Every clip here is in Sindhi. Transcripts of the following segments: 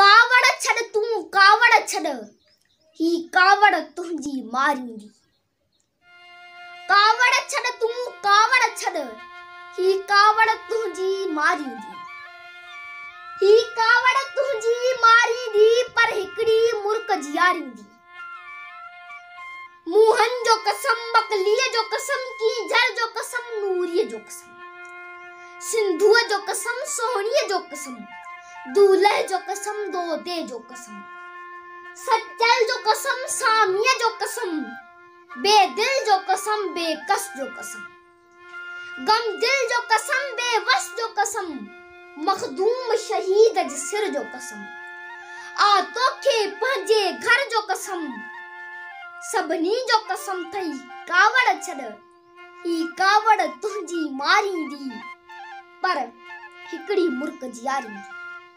ڪاوڙ ڇڏ تون ڪاوڙ ڇڏ، هي ڪاوڙ تنهنجي ماريندي. ڪاوڙ ڇڏ تون ڪاوڙ ڇڏ، هي ڪاوڙ تنهنجي ماريندي. هي ڪاوڙ تنهنجي ماريندي، پر هڪڙي مرڪ جياريندي. موهن جو قسم، بڪليء جو قسم، ڪينجهر جو قسم، نوريء جو قسم، سنڌوء جو قسم، سهڻيء جو قسم، دولهه جو قسم، دودي جو قسم، سچل جو قسم، ساميء جو قسم، بيدل جو قسم، بيڪس جو قسم. غم دل جو قسم بي وس جو قسم مخدوم شهيد جي سر جو قسم آء توکي پنهنجي گهر جو قسم سڀني جو قسم ٿئي ڪاوڙ ڇڏ هي ڪاوڙ تنهنجي ماريندي پر هڪڙي مرڪ جياريندي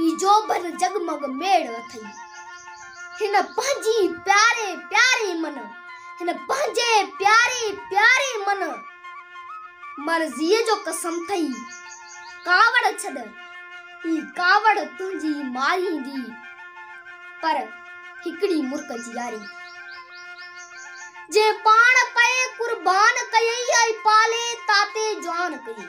هي جو بن جڳمڳ ميڙ اٿئي. هن پنهنجي پياري پياري من. هن پنهنجي پياري پياري من. مرضيء جو قسم ٿئي. ڪاوڙ ڇڏ. هي ڪاوڙ تنهنجي ماريندي. پر هڪڙي مرڪ جياري. جنهن پاڻ پئي قربان ڪيئي ۽ پالي تاتي جوان ڪيئي.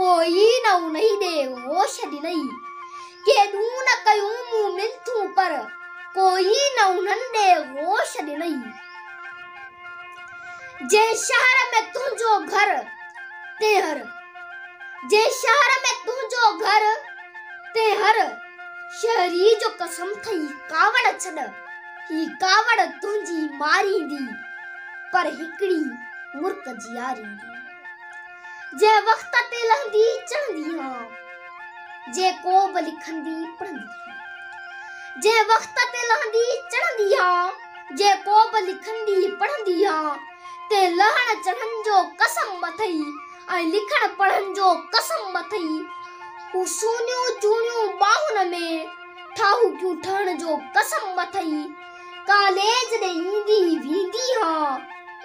ڪوئي نه انهي ڏي هوش ڏنئي. ڪيڏون نه ڪيون مون منٿون پر ڪوئي نه انهن ڏي هوش ڏنئي. جنهن شهر ۾ تنهنجو گهر تنهن هر جنهن شهر ۾ تنهنجو گهر تنهن هر شهري جو قسم ٿئي ڪاوڙ ڇڏ هي ڪاوڙ تنهنجي ماريندي پر هڪڙي مرڪ جياريندي. جنهن وقت تي لهندي چڙهندي هان جي ڪو به لکندي پڙهندي هان جنهن وقت تي لهندي چڙهندي هان جي ڪو به لکندي پڙهندي هان تي لهڻ چڙهڻ جو قسم اٿئي ۽ لکڻ پڙهڻ جو قسم اٿئي هو سونيون چوڻيون ٻانهن ۾ ٺاهوڪيون ٺهڻ جو قسم اٿئي ڪاليج ڏي ايندي ويندي ها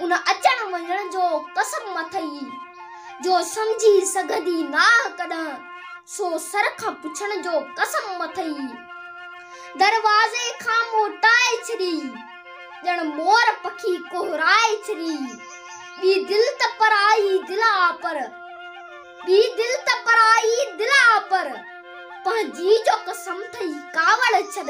ان اچڻ وڃڻ جو قسم اٿئي جو سمجهي سگهندي ناهه ڪڏهن سو سر کان پڇڻ جو قسم اٿئي دروازي کان موٽائي ڇڏي ڄڻ مور پکي ڪهرائي ڇڏي ٻي دل ته پرائي دل آ پر ٻي دل ته پرائي دل آ پر پنهنجي جو قسم ٿئي ڪاوڙ ڇڏ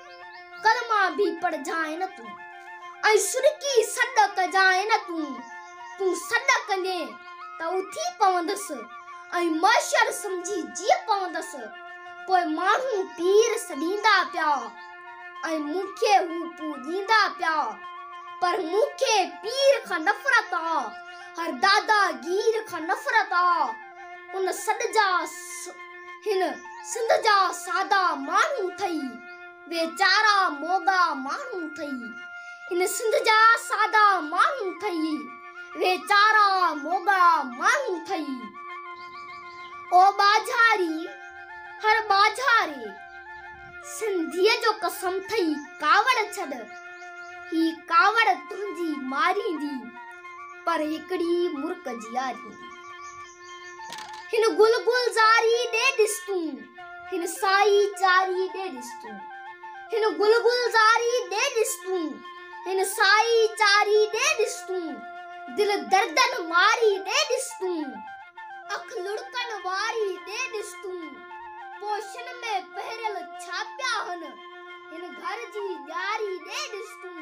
ڪلما به پڙهجانء نه تون، ۽ سرڪي سڏ ڪجانء نه تون، تون سڏ ڪندين ته اٿي پوندس، ۽ معشر سمجهي جيء پوندس، پوء ماڻهو پير سڏيندا پيا، ۽ مون کي هو پوڄيندا پيا، پر مون کي پير کان نفرت آ، هر دادا گير کان نفرت آ، ان سڏ جا. هن سنڌ جا سادا ماڻهو ٿئي ويچارا موڳا ماڻهو ٿئي هن سنڌ جا سادا ماڻهو ٿئي ويچارا موڳا ماڻهو ٿئي او ٻاجهاري هر ٻاجهاري سنڌي جو قسم ٿئي ڪاوڙ ڇڏ هي ڪاوڙ تنهنجي ماريندي پر هڪڙي مرڪ جياريندي هن گل گلزاري ڏي ڏس تون هن سائي چاري ڏي ڏس تون هن گل گلزاري ڏي ڏس تون هن سائي چاري ڏي ڏس تون دل دردن ماري ڏي ڏس تون اک لڙڪن واري ڏي ڏس تون پوشن ۾ پهريل ڇا پيا هن هن گهر جي ڄاري ڏي ڏس تون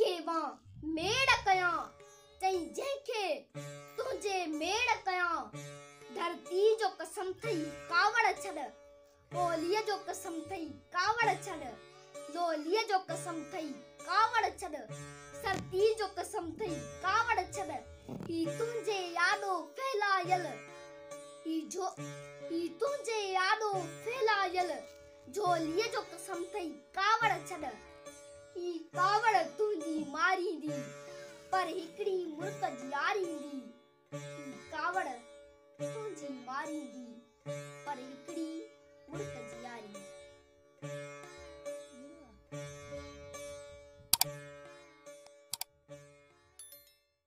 کي مان ميڙ ڪيان، چئين جنهن کي تنهنجي ميڙ ڪيان. ڌرتيء جو قسم ٿئي ڪاوڙ ڇڏ، ٻوليء جو قسم ٿئي ڪاوڙ ڇڏ، لوليء جو قسم ٿئي ڪاوڙ ڇڏ، سرتيء جو قسم ٿئي ڪاوڙ ڇڏ، هي تنهنجي آڏو ڦهلايل، هي تنهنجي آڏو ڦهلايل. جهوليء جو قسم ٿئي ڪاوڙ ڇڏ، هي ڪاوڙ تنهنجي ماريندي، پر هڪڙي مرڪ جياريندي، هي ڪاوڙ تنهنجي ماريندي، پر هڪڙي مرڪ جياريندي.